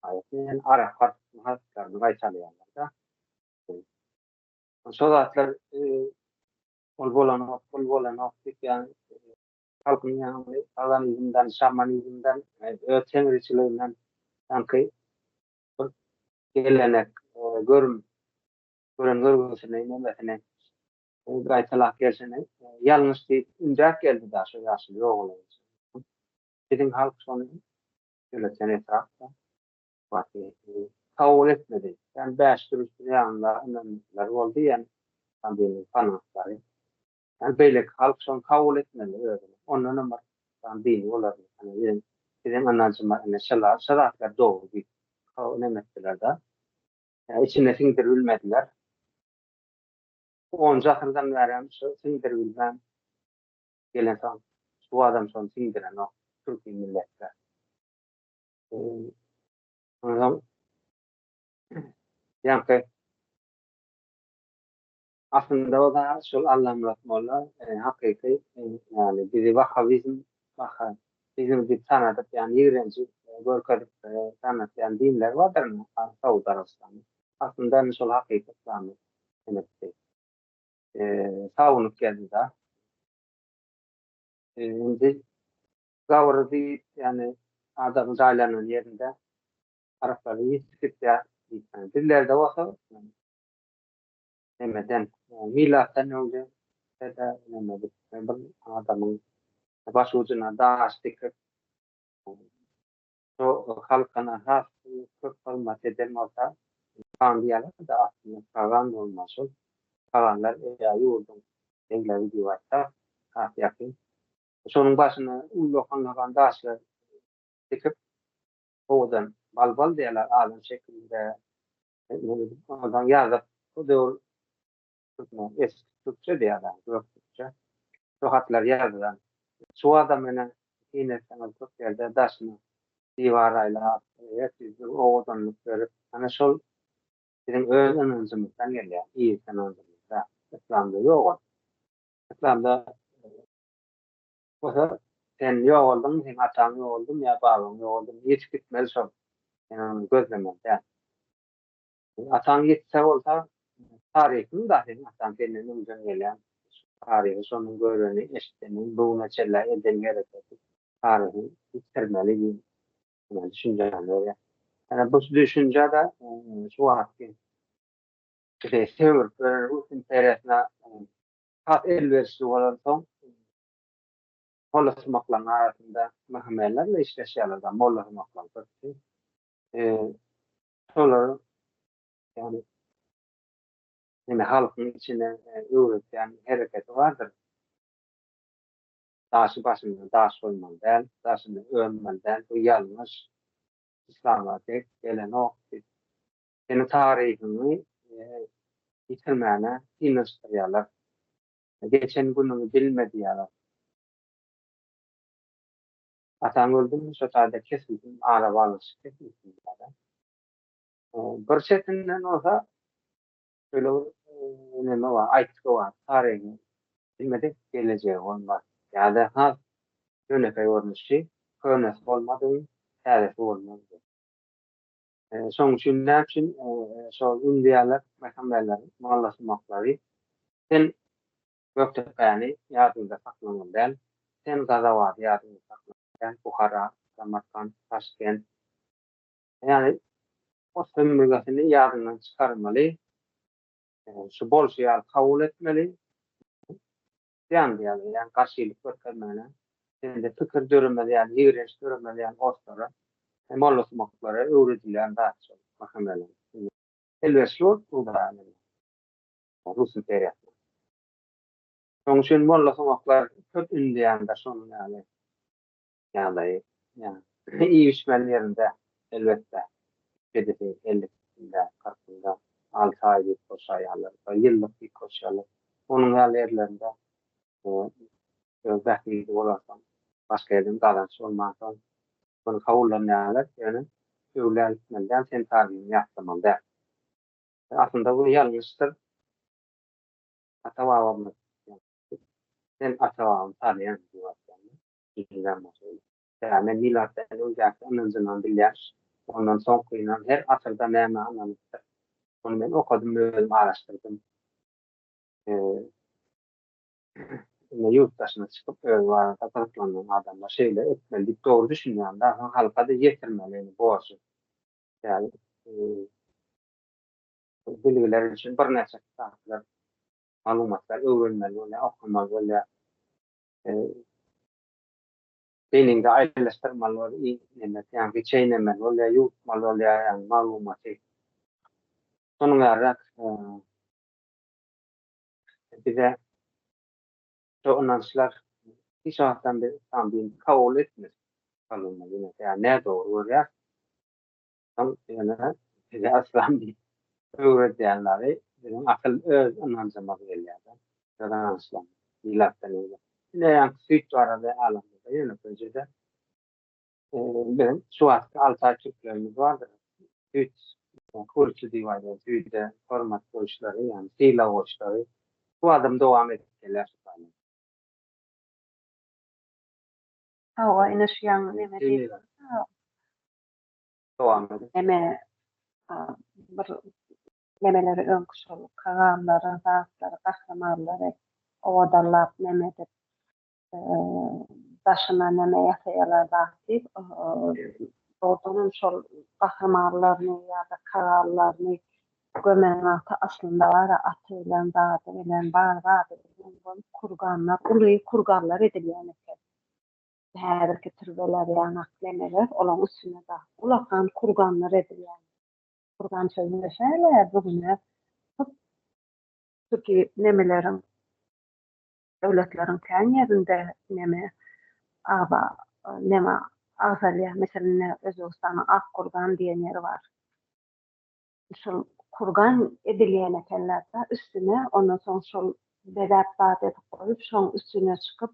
Aýaty arap harflaryny gaýtalaýarlar-da. Şo zatlar Ol bolanok, bul bolanok diýip ýaňy halkyň ýaňy paganizmden, şamanizmden, öz teňriçiliginden sanki bir gelenek, görüm, gören görgüsini, nemesini gaýtalap gelşini ýalňyş diýip ündäp geldi daş şu ýaşuly ogullaryň içinde. Biziň halk şony ýöretýän etrap-da. Batyr kabul etmedi. Ýan bäş gün üstüne ýanynda ynanmyşlary boldy ýan Sandynyň fanatlary. Ýan beýleki halk şony kabul etmedi özüne. Ondanam bir ýan dini olardy. Ýani biziň biziň ynanjymyz ine şala şo zatlar dogry diýip kabul neme etdiler-de. Ýa içine siňdirip bilmediler. Onunjy asyrdan bärem şo siňdirip bilmän gelensoň şu badam şony siňdirenok türki milletler. Ondan ýaňky aslynda o zat şol Allamyrat molla e, hakyky e, ýagny bizi wahhabizm wahha bizim diýip tanadyp ýagny ýigrenji e, görkezip tanatýan dinler bardyr Saud Arabystany. Aslynda indi şol hakyky islamy inipdi. Sagunyp geldi-de. Indi Gabyry düýp, ýagny adamyň jaýlanan ýerinde araklary ýitip gitýär diýipdir. Bizlerde bolsa nämeden, milatdan öňde tä-de näme bir adamyň baş ujuna daş dikip, şo halkyna has köp hyzmat eden bolsa, pagan diýýärler-de, aslynda pagan bolman şol paganlar ýurduň egleri diýip aýtsak has ýakyn. Şonuň başyna ullakan-ulakan daşlar dikip, owadan balbal diýýärler, adam şekilinde owadan ýazyp, o döwür türkmen, eski türkçe diýýärler, gök türkçe, şo hatlary ýazylan. Çuwada menä syn etseňiz köp ýerde daşyna diwar aýlap, ep-esli owadanlyk berip, ana şol biziň öz ynanjymyzdan gelýär, yz ynanjymyzda. Yslamda ýok ol. Yslamda Bolsa sen ýogaldyňmy, seň ataň ýogaldymy ýa babaň ýogaldymy, ýetip gitmeli şol, sen ony gözlemeli däl. Ataň ýetse bolsa, taryhyň bar seniň ataň senden öňden gelýän, taryhy şonuň göreni, eşideni, bu güne çenli edeni hereketi, taryhy ýitirmeli diýen düşünjäni berýär. Ýöne bu düşünje-de şu wagtky şeýle söbüp ýören rus imperiýasyna Has elwerişli bolansoň, Molla sumaklaň arasynda myhmenler-le işleşýärler-da, Molla sumaklaň köpüsi. Şolary, ýagny, indi halkyň içine öwretýän hereketi bardyr. Daşy başyndan daş goýmaly däl, daşyny örmeli däl, bu ýalňyş, yslama dek gelenok diýip, seniň taryhyňy ýitirmäne synanyşdyrýarlar, geçen günüňi bilme diýýärler. Ataň öldümi, şo taýda kesilsin, arabaglanyşyk kesilsin diýýärler. Bir çetinden bolsa şöyle bir neme bar, aýtgy bar, taryhy bilmedik gelejegi bolmaz. Ýa-da has ýönekeý görnüşi, könesi bolmadygyň täzesi bolmaz diýip. Şoň üçin näme üçin şol indiýalar Mehamberleri mollaşmaklary sen Gökdepäni ýadyňda saklamaly däl, sen Gazawady ýadyňda saklamaly däl, Buhara, Samarkant, Taşkent, ýagny o sömürgesini ýadyňdan çykarmaly, şu bolşy ýaly kabul etmeli, Ýandy ýaly, ýagny garşylyk görkezmegine, sende pikir döremez ýaly, ýigrenç döremez ýaly orslary, mollasumaklary öwredilýän zat şol Mahomelon. Indi elwes ýurt Hudaýa mende. Rus imperiýasyna. Şonuň üçin mollasumaklar köp ündeýändir şonuň ýaly. ýagdaýy ýa-da iýişmeli ýerinde, elbetde, kedisi elli günde, kyrk günde, alty aý diýip boşaýarlar, bir ýyllyk diýip boşaýarlar. Onuň ýaly ýerlerinde öz bähbidi bolansoň, başga ýerden gazanç bolmansoň, ony kabullanýarlar, ýöne öwlä gitmeli däl, sen tabyny ýatlamaly däl. Aslynda bu ýalňyşdyr. Ata-babamyz, Sen ata-babaňy tanýaňmy? diýip aýdýarlar. Näme milatdan öňjäki ynanjynam bilýär. Ondan soňkynam her asyrda nämä ynanypdyr. Muny men okadym özüm araşdyrdym. Indi ýurt daşyna çykyp özi barada gyzyklanýan adamlar şeýle etmeli diýip dogry düşünýän dagy soň halkada ýetirmeli indi borjy. Ýaly bilgiler üçin birnäçe kitaplar maglumatlar öwrenmeli bolýar okamaly bolýar. beýniňde aýrylyşdyrmaly bol, iýmeli, ýa giçeýlemeli bol, ýa ýuwutmaly bol, ýa ýagny maglumaty. Şonuň ýaly-da bize şu ynançlar hiç wagtdan biz yslam dinini kabul etmedik. Ýa nädogry görýäris. Şol ýöne bize yslam diýip öwredýänleri biziň asyl öz ynanjymyz gelýär-de. Öz ynançlarymyz. Ilatdan öýdýän. Ine ýaňky süýt barada alamda-da ýönekeýje-de biziň şu wagtky altaý türklerimiz bardyr. Süýt kuryçy diýip aýdýan süýde hormat goýuşlary, ýagny sylag goýuşlary şu badam dowam edip gelýär şu taýdan. Hawa, ine şu ýaňky neme diýip. dowam edip. Eme bir nemeleri öňki şol kaganlary, zatlary, gahrymanlary owadallap neme edip daşyna neme ýasaýarlar zat diýip, dogrudan hem şol gahrymanlaryny ýa-da kaganlaryny gömen wagty aslynda bar-a aty bilen, zady bilen, bar zady bilen bolup kurganlar, uly kurganlar edilýän eken. häzirki türbeler ýa naklemeler olaň üstüne dag ulakan kurganlar edilýär. Kurgan sözüne şeýle bu güne hut şuki nemeleriň döwletleriň kän ýerinde neme aba neme agzalýar. Meselem ine Özbegistanyň Ak kurgan diýen ýeri bar. Şol kurgan edilýän ekenler-de üstüne ondan soň şol bezäp zat edip goýup şoň üstüne çykyp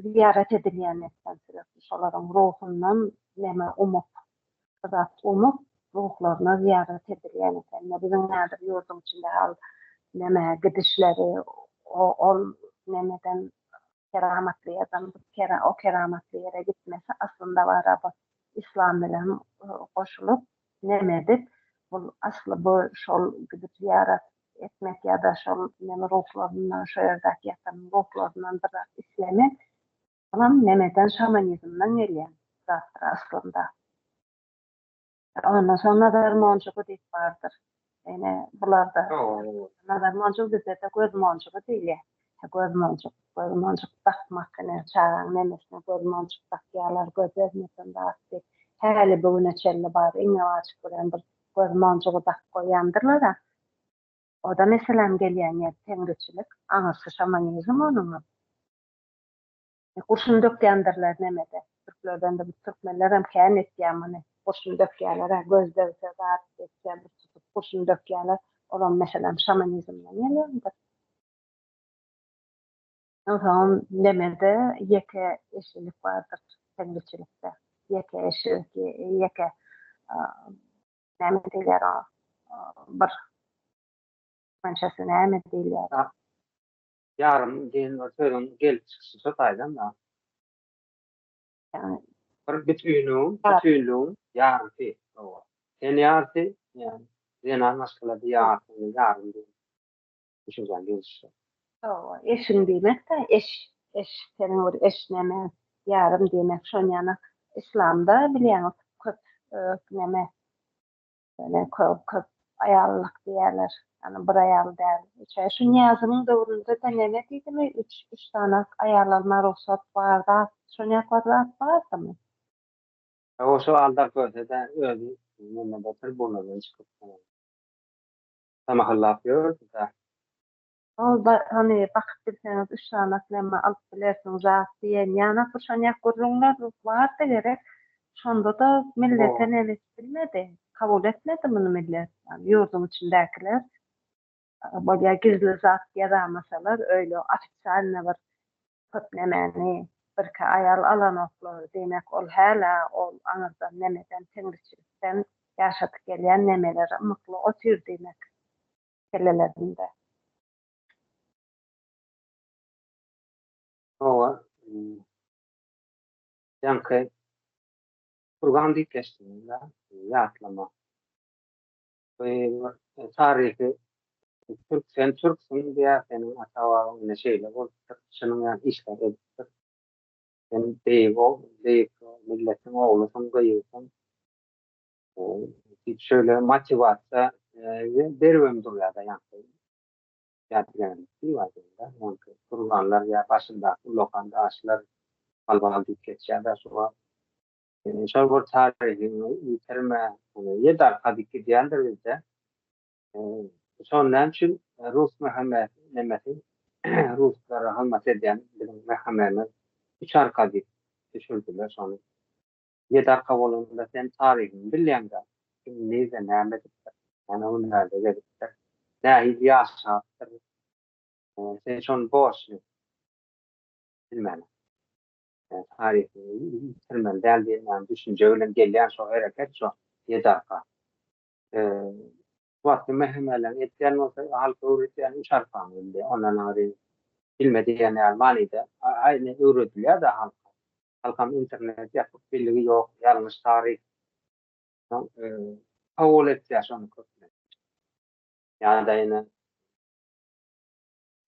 ziyaret edilýän etsen sebäpli şolaryň ruhundan neme umup, zat umup, ruhlaryna ziyaret edilýän eken. Ine, biziň häzir ýurduň içinde hal neme gidişleri, ol nemeden keramatly ýerden o keramatly ýere gitmesi aslynda baraba yslam bilen goşulyp, Dilemedik. Bul asly bu şol gidip zyýarat etmek ýa-da şol neme ruhlaryndan, şo ýerdäki ýatan ruhlaryndan bir zat islemek. Olam nemeden, şamanizmden gelýän zatdyr aslynda. Ondan soň nazar monjugy diýip bardyr. Ýöne bularda nazar monjugy bizede göz monjugy diýilýär. Göz monjuk, göz monjuk dakmak ine çagaň nenesine göz monjuk dakýarlar göz degmesin zat diýip. Häli bu güne çenli bar iňňe wajyp bilen bir göz monjugy dakyp goýýandyrlar-a. O-da meseläniň gelýän ýeri teňriçilik, aňyrsy şamanizm onuňam. Gurşun dökýändirler nemede. Türklerden de biz türkmenlerem kän etýä muny. Gurşun dökýäler-ä, göz degse zat geçse bir tutup gurşun dökýäler. Olam meselem şamanizmden gelendir. Onsoňam nemede ýeke eşilik bardyr teňriçilikde. Ýeke eşilik, ýeke näme diýilýär oňa bir türkmençesi näme diýilýär. Ýarym diýen bir sözüň gelip çykyşy şo taýdan-da. Ýagny. Bir bütünligiň, bütünligiň ýarysy. Hawa. Ten ýarysy, ýagny zenan maşgalada ýarysy, ýarym diýen düşünjäň gelişi. Hawa, eşiň diýmek-de, eş, eş, seniň bir eş näme, ýarym diýmek, şonýan-a Yslamda bilýäňiz köp neme, Ýöne köp aýallyk diýýärler. Ýagny bir aýal däl. Üçe şu Nyýazynyň döwründe-de neme diýdimi, üç, üç sanak aýal alma rugsat bar zat, şony ýakar zat bardymy? Hawa, şu aldar görse-de özi nirede tribunada çykyp tamahallap ýördi-dä. Ol da, Hany, bakyp bilseňiz, üç sany aklema alyp bilersiň, zat, diýen ýanak bir şonýak gürrüňler bardy gerek. Şonda-da millete näme edip bilmedi. Kabul etmedi muny millet, ýagny ýurduň içindäkiler. Bolýa gizli zat ýazamasalar, öýle ofisialny bir köp nämäni birki aýal alanoklar. Diýmek, ol hälä ol aňyrdan nämeden, teňriçilikden ýaşadyp gelýän nämeleri ymykly otyr diýmek. meselelerinde. Hawa, ýaňky Turgan diýip geçdiňiz-dä, ýatlama. Bu taryhy türk, sen türksüň diýýär, seniň ata-babaň ine şeýle bolupdyr, şunuň ýaly işleri edipdir. Sen beýik, beýik milletiň oglusyň, gyzysyň. Hiç şöyle motivasiýa beribem durýar-da ýaňky. Ýaňky turganlar ýa başyndaky ulakan daşlar hal-bahal diýip geçýär-de şo wagt. Şol bir taryhyňy ýitirme. Ýedi arka dik gidýändir bizde. Şony näme üçin rus Mehmet nemesi ruslara hyzmat edýän biziň Mehememiz üç arka dik düşürdiler şony. Ýedi arka bolanda sen taryhyňy bilýäň-dä, kim nirde näme edipdir, näme hünärde gezipdir, nähili ýaşapdyr, sen şony borçly bilmäliň. Taryhyňy ýitirmeli däl diýen düşünje bilen gelýän şo hereket, şo ýedi arka. Şu wagtky mähemeleriň edýän bolsa halka öwredýän üç arkany bildi, ondan aňry bilme diýen ýaly manyda aýny öwredilýär-dä halka. Halkam internet ýapyk biligi ýok ýalňyş taryh soň kabul etýär şony köplenç. Ýa-da ýene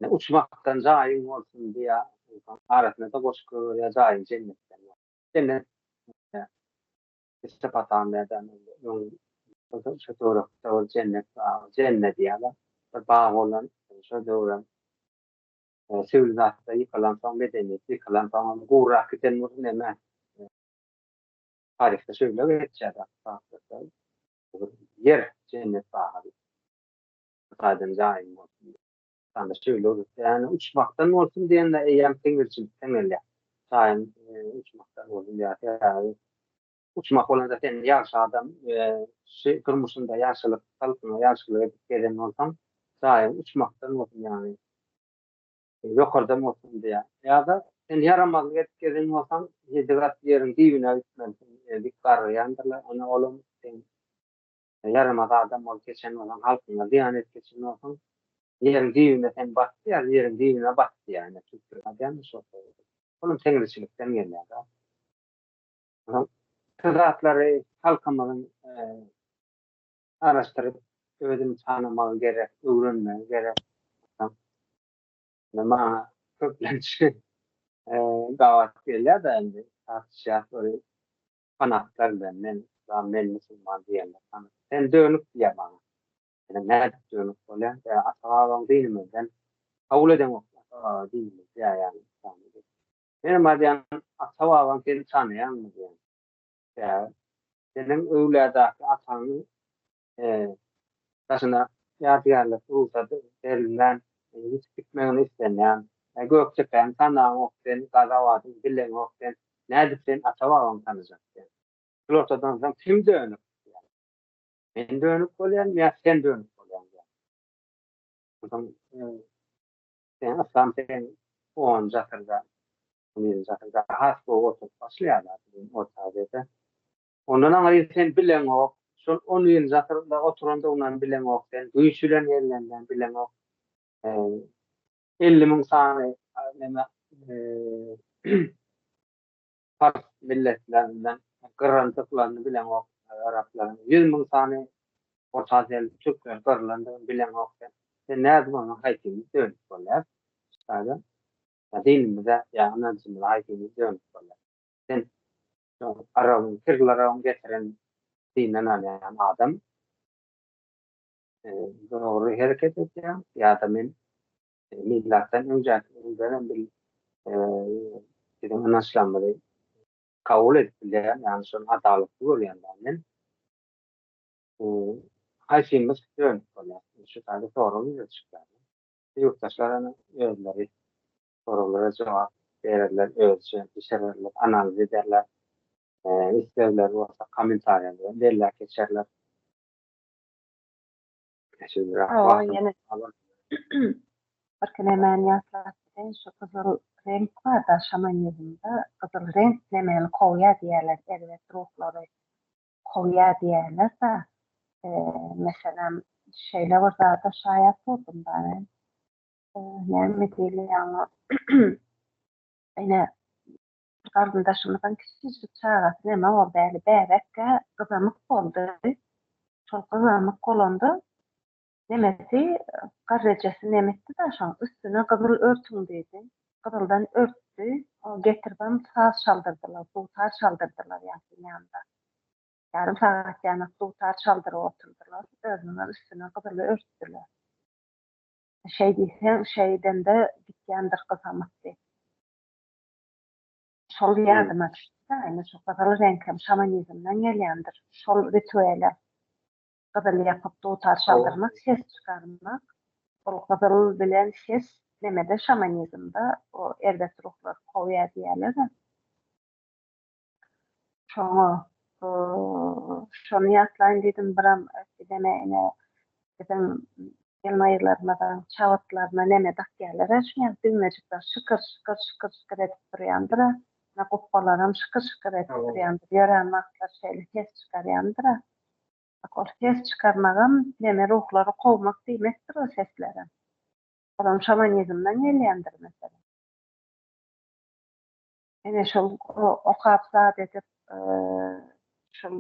Ne uçmakdan jaýyň bolsun diýä arasynada goşgy goýberýär jaýyň jennetden bolsun. Jennet Mesopotamýada şo töwerekde bir jennet bar. Jenne diýýäler. Bir bag bolan şo döwürem Söwül zatda ýykylansoň medeniýet ýykylansoň onda gurak giden bolsa neme taryhda şöyle geçýär ýer jennet bagy Hudaýdan jaýyň bolsun ýa-da şöyle ýa-ni uçmakdan bolsun diýende eýýäm siňirjilikden gelýär jaýyň uçmakdan bolsun diýýär sebäbi Uçmak bolanda sen ýagşy adam we şu durmuşynda ýagşylyk, halkyňa ýagşylyk edip gezen bolsaň, jaýyň uçmakdan bolsun ýagny ýokardan bolsun diýýär. Ýa-da sen ýaramazlyk edip gezen bolsaň, ýedi gat ýeriň düýbüne gitmelisin, dik gargyrýandyrlar, ine olam sen ýaramaz adam bolup geçen bolsaň, halkyňa zyýan edip geçen bolsaň, ýeriň düýbüne sen bat diýýär, ýeriň düýbüne bat diýýär, ine türkler aýdýandyr şol sözi. Olam teňriçilikden gelýär-de. Şu zatlary halkymyzyň garaşdyryp, özüni tanamagy gerek, öwrenmegi gerek. Maňa köplenç gabat gelýär-de indi, tartyşýas bir fanatlar bilen, men yslam, men musulman diýende, sen dönük diýýär maňa. Ýöne nädip dönük bolýaň, ata-babaň dinimizden kabul edeňok, ata-baba dinimiz diýýär ýaly. Menem aýdýan, ata-babaň seni tanaýarmy diýen. Däl. Seniň öwladaky ataňyň daşyna ýadygärlik rugsat berilmän ýitip gitmegini islenýän. Gökdepäňi tanaňok sen, Gazabadyňy bileňok sen, nädip sen ata-babaňy tanajak diýen. Şul ortadan soň kim dönük diýen. Men dönük bolýan ýa sen dönük bolýaň diýen. Onsoň Sen aslan sen on jasyrda, on ýedi jasyrda has gowy oturyp başlaýarlar biziň orta Aziýada. Ondan aňry sen bileňok, şol on ýedi jasyrda oturandygyndan bileňok sen, güýç bilen gelenden bileňok. Elli müň sany neme pars milletlerinden gyryldyklaryny bileňok araplaryň ýüz müň sany orta aziýaly türkler gyrylandygyny bileňok sen sen nädip onuň haýsymyz dönüp bolýas şaýda ýa dinimize ýa ynanjymyza haýsymyz dönüp bolýas sen şol arabyň kirlarabyň getiren dinden alýan adam dogry hereket edýäň ýa-da men milatdan önjäki ýyllardan bir biziň ynançlarymyzy kabul edip bilýän, ýagny şol adalatly görýän men. Haýsymyz dönüp bolýar? Şu taýda sorag ýüze çykýar. Ýurtdaşlar özleri soraglara jogap bererler, özüçe bişirerler, analiz ederler. Islegleri bolsa kommentariýada belläp geçerler. Birkilemäni ýatlap giden şu gyzyl reňk barda şamanizmde gyzyl reňk nemeli kowýa diýýärler erbet ruhlary kowýa diýýärlerde meselem şeýle bir zada şaýat boldum da men näme diýilýär oňa ine Bir garyndaşymyzyň kiçijik çagasy näme boldy äli, bäbek-ä gyzamyk boldy. Şol gyzamyk bolanda nenesi garrejesi neme etdi daşyň üstüne gyzyl örtüň diýdi. Gyzyldan örtdi. Ony getiribem saz çaldyrdylar, dutar çaldyrdylar ýasyň ýanynda. Ýarym sagat ýanak dutar çaldyryp oturdylar. Özüniňem üstüne gyzyly örtdüler. Şeý diýseň, şeý edende gitýändir gyzamyk diýip. Şol ýadyma düşdi-de, indi şu gyzyl reňk hem şamanizmden gelýändir. Şol rituele gyzyl ýapyp, dutar çaldyrmak, ses çykarmak. Ol gyzyl bilen ses nemede, şamanizmde o erbet ruhlary kowýar diýýärler-de. Şoňa şony ýatlaýyn diýdim, biram gidene ine biziň gelnaýylarymyzyň çabyrtlaryna neme dakýarlar-a şuňa düwmejikler şykyr şykyr şykyr şykyr edip durýandyr-a, ine gupbalaram şykyr şykyr edip durýandyr, ýörän wagtlary şeýle ses çykarýandyr-a. Bak ol ses çykarmagam neme ruhlary kowmak diýmekdir o seslerem. Olam şamanizmden gelýändir meselem. Ene şol okap zat edip, şol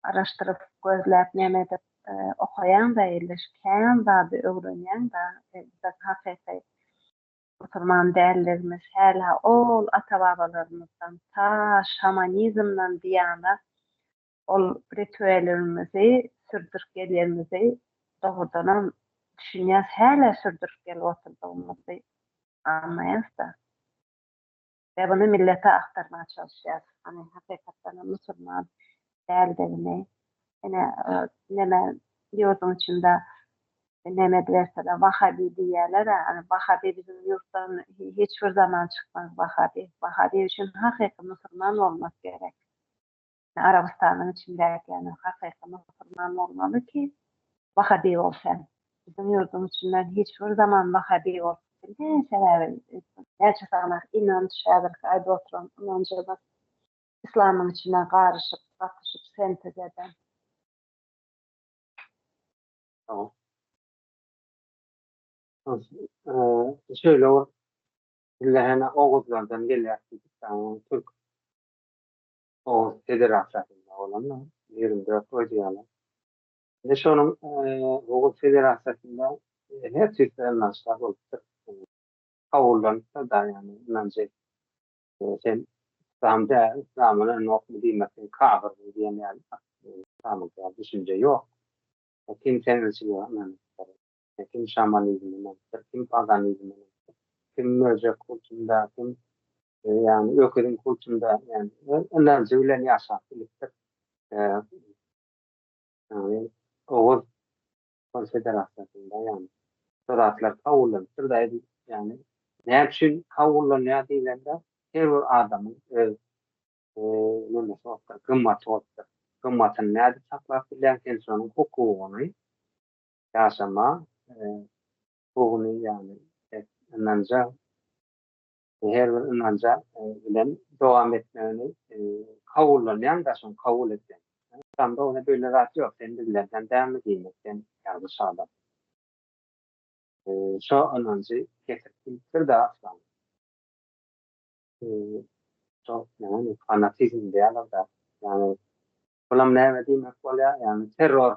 araşdyryp, gözläp näme edip okaýaň-da, elleş, kän zady öwrenýäň-da, biz hakyky musulman däldigimiz, hälä ol ata-babalarymyzdan ta şamanizmden diýana Ol rituelimizi sürdürip gelýänimizi dogrudanam düşünýäs, hälä sürdürip gelip oturdygymyzy aňmaýas-da. We muny millete aktarmaga çalyşýas. Hany, hakykatdanam musulman däldigini, ine, neme, ýurduň içinde neme ediberseler, wahabi diýýäler-ä, hany, wahabi biziň ýurtdan hiç bir zaman çykmaz, wahabi. Wahabi üçin hakyky musulman bolmak gerek. Arabystanyň içindäki ýagny hakyky musulman bolmaly ki wahhabi bolsyn. Biziň ýurduň içinden hiç bir zaman wahhabi bolup bilmeýän sebäbi näçe sanaý inanç häzirki aýdyp oturan ynanjymyz islamyň içine garyşyp gatyşyp sentez eden. Şeýle bir dille hene oguzlardan gelýär diýdik daňyň türk Oguz Federasiýasynda bolanda, ýigrimi dört goýdy ýaly. Indi şonuň Oguz Federasiýasynda her tüýsli ynançlar bolupdyr. Kabullandypdyr dagy ýagny ynanjy. Sen yslam däl, yslamdan ynanokmy diýmek sen kafyrsyň diýen ýaly yslamyňky ýaly düşünje ýok. Kim sen ynanýan? kim şamanizminiň, bir kim paganizminiň, kim möjek kultunda, kim ýagny öküziň kultunda ýagny ynanjy bilen ýaşap bilipdir. Ýagny Oguz konfederasiýasynda ýagny bu zatlar kabullanypdyr-da, ýagny näme üçin kabullanýar diýlende, her bir adamyň öz nämesi bolupdyr, gymmaty bolupdyr. Gymmatyny nädip saklap bilýäň, sen şonuň hukugyny ýaşama huguny ýagny ynanja her bir ynanja bilen dowam etmegini kabullanýan daşyn kabul etýän. Yslamda ony beýle zat ýok. Sen bizlerden dälmi diýmek sen ýalňyş adam. Şo ynanjy kesip bilipdir-de aslan. Şo näme fanatizm diýýärler-de. Ýagny bulam näme diýmek bolýar? Ýagny terror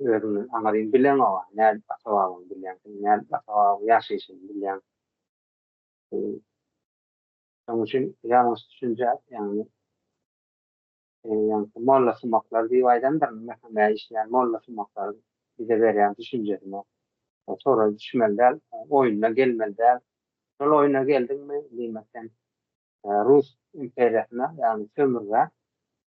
Özüňi aňryň bileňoga, nädip ata-babaňy bilýäň sen, nädip ata-babaň ýaşaýşyny bilýäň? Şonuň üçin ýalňyş düşünje, ýagny ýaňky molla sumaklar diýip aýdandyr, mähemä işleýän molla sumaklar bize berýän düşünjesine tora düşmeli däl, oýuna gelmeli däl. Şol oýuna geldiňmi, diýmek sen rus imperiýasyna, ýagny sömürgä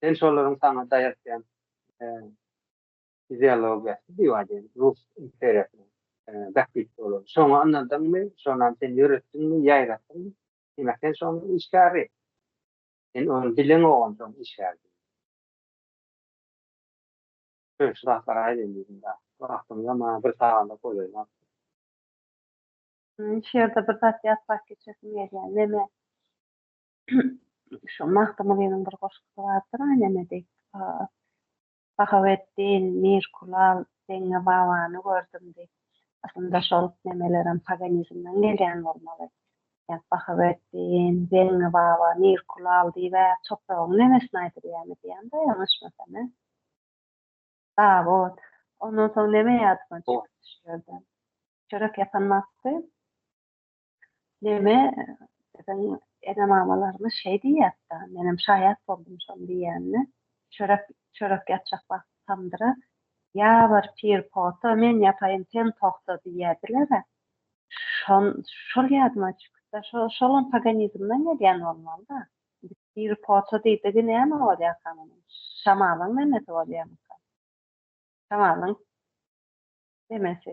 Sen şolaryň saňa daýatýan ideologiýasy diýip aýdaýyn, rus imperiýasynyň bähbit ýoly. Şoňa ynandyňmy, şonam sen ýöretdiňmi, ýaýratdyňmy? Diýmek, sen şonuň işgäri. Sen ony dileňogam şoň işgäri. Şeýle zatlar aýdaýyn diýdim dagy. Wagtymyzam maňa bir saganda golaýlap. Şu ýerde bir zat ýatlap geçesim gelýär. Meme, Şu Magtymgulynyň bir goşgusy bardyr, Neme diýip, Bahaweddin, Mir Kulal, Deňňe babany gördüm diýip. Aslynda şol nemelerem paganizmden gelýän bolmaly. Ýa Bahaweddin, Deňňe baba, Mir Kulal diýib-ä topragyň nemesini aýdylýamy diýýän-de ýalňyşmasam, e. Dawut. Ondan soň neme ýadyma düşýär-de. Çörek ýapan wagty Neme biziň ene-mamalarymyz şeý diýýärdi-dä, menem şaýat boldum şoň diýýänine. Çörek, çörek ýatjak wagty tamdyra ýabyr, pir pota, men ýapaýyn, sen togta diýýärdiler-ä. Şon, şol ýadyma çykyp-da, şo, şolam paganizmden gelýän bolmaly-da. Indi pir pota diýdigi näme bolýarka munuň? Şamalyň nemesi bolýarmyka? Şamalyň nemesi.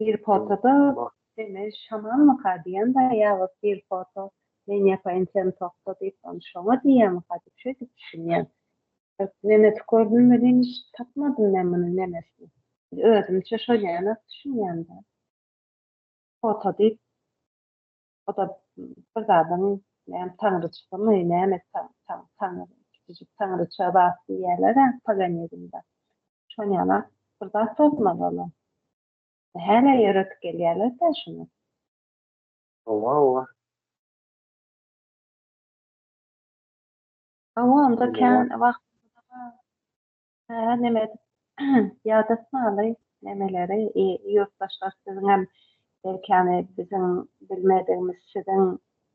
Hir fotoda seni şamalmyka diýemda ýa-da hir foto men ýapa ençem tokda diýip ony şoňa diýýämika diýip şeýdip düşünýän. Nemes gördüm welin tapmadym men munuň nemesini. Özümçe şoýanok düşünýän-dä. Foto diýip O da bir zadyň näme taňryçysymy, näme taň, taň, taň, kiçijik taňryça zat diýýärler-ä paganizmde. Şon ýaly bir zat bolmaly ol. Hälä ýöredip gelýärler-dä şuny. Hawa, hawa. Hawa, onda kän wagt Hä, neme edip ýada saly nemeleri, e, ýurtdaşlar siziňem belkäni biziň bilmedigimiz siziň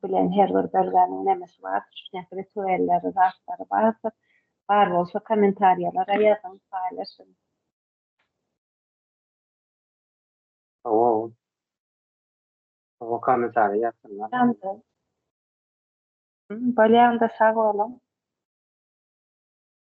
bilen her bir bölgäniň nemesi bar, şuňňaki rituelleri, zatlary bardyr. Bar bolsa kommentariýalara ýazyň, paýlaşyň. Hawa ol. Hawa kommentariýa ýazsynlar. Ýaňky. Bolýanda sag boluň.